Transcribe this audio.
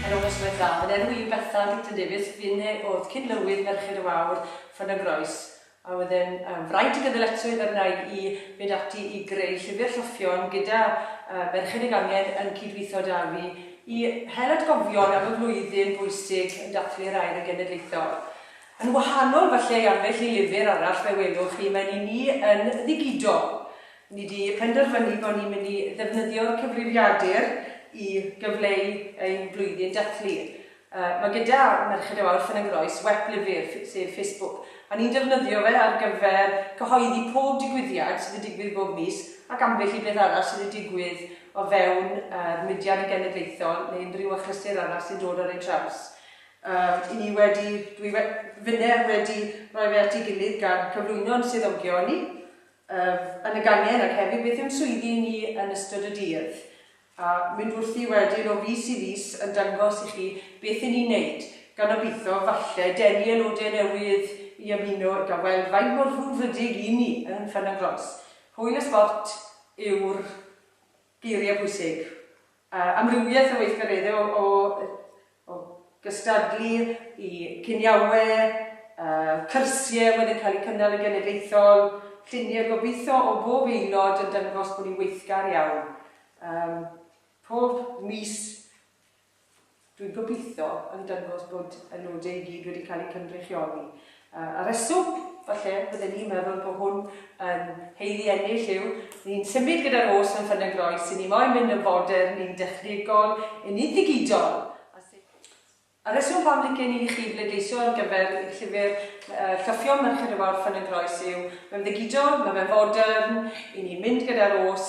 Yn ogystal â Dafydd, enw i Bethan Dicton Davies, f'un e oedd cyd-lywydd Merched y Wawr, Ffon y Groes, a oedd e'n fraint o gynddyletrwydd a wnaed i fynd ati i greu llyfr Rhoffion gyda Merched y Gangen yn cyd-weithio da fi i hel atgofion am y flwyddyn bwysig yn dathlu'r Air yn Genedlaethol. Yn wahanol falle i ambell i lyfr arall fe welwch chi, mae'n i ni yn ddigidol. Ni 'di penderfynu bod ni'n mynd i ddefnyddio'r cyfrifiadur i gyfleu ein blwyddyn dathlu. Mae gyda Merched y Wawr Ffynnongroes wep lyfr, sef Facebook, a ni'n defnyddio fe ar gyfer cyhoeddi pob digwyddiad sydd yn digwydd bob mis ac ambell i beth arall sydd yn digwydd o fewn yr mudiad genedlaethol neu unrhyw achlysur arall sy'n dod ar ein traws. Yy, 'y ni wedi, dwi we- finne wedi rhoi fe at ei gilydd gan cyflwyno'n swyddogion ni, Ef yn y gangen ac hefyd beth yw'n swyddi ni yn ystod y dydd. A mynd wrthi wedyn o fis i fis yn dangos i chi beth yn ni'n neud, gan obeitho falle denu aelode newydd i ymuno ac a weld faint mor frwdfrydig y'n ni yn Ffynnon Glos. Hwyl a sbort yw'r Geiriau pwysig. Amrywiaeth o weithgareddau o o o gystadlu i ciniawe, cyrsie oedd yn cael eu cynnal yn genedlaethol, lluniau gobeithio o bob aelod yn dangos bod ni'n weithgar iawn. Pob mis Dwi'n gobeithio yn dangos bod y nodau i gyd wedi cael eu cynrychioli. Y rheswm, falle, fydden ni'n meddwl bod hwn yn haeddu ennill yw, ni'n symud gyda'r Rhos yn Ffynnon Groes, ry'n ni moyn mynd yn fodern, yn dechnegol, yn unigidol. Y rheswm pam licen i chi bleidleisio ar gyfer llyfr Llyffion Merched y Wawr Ffynnon Groes yw, mae'n ddigidol, mae fe'n fodern, ry'n ni'n mynd gyda'r Rhos,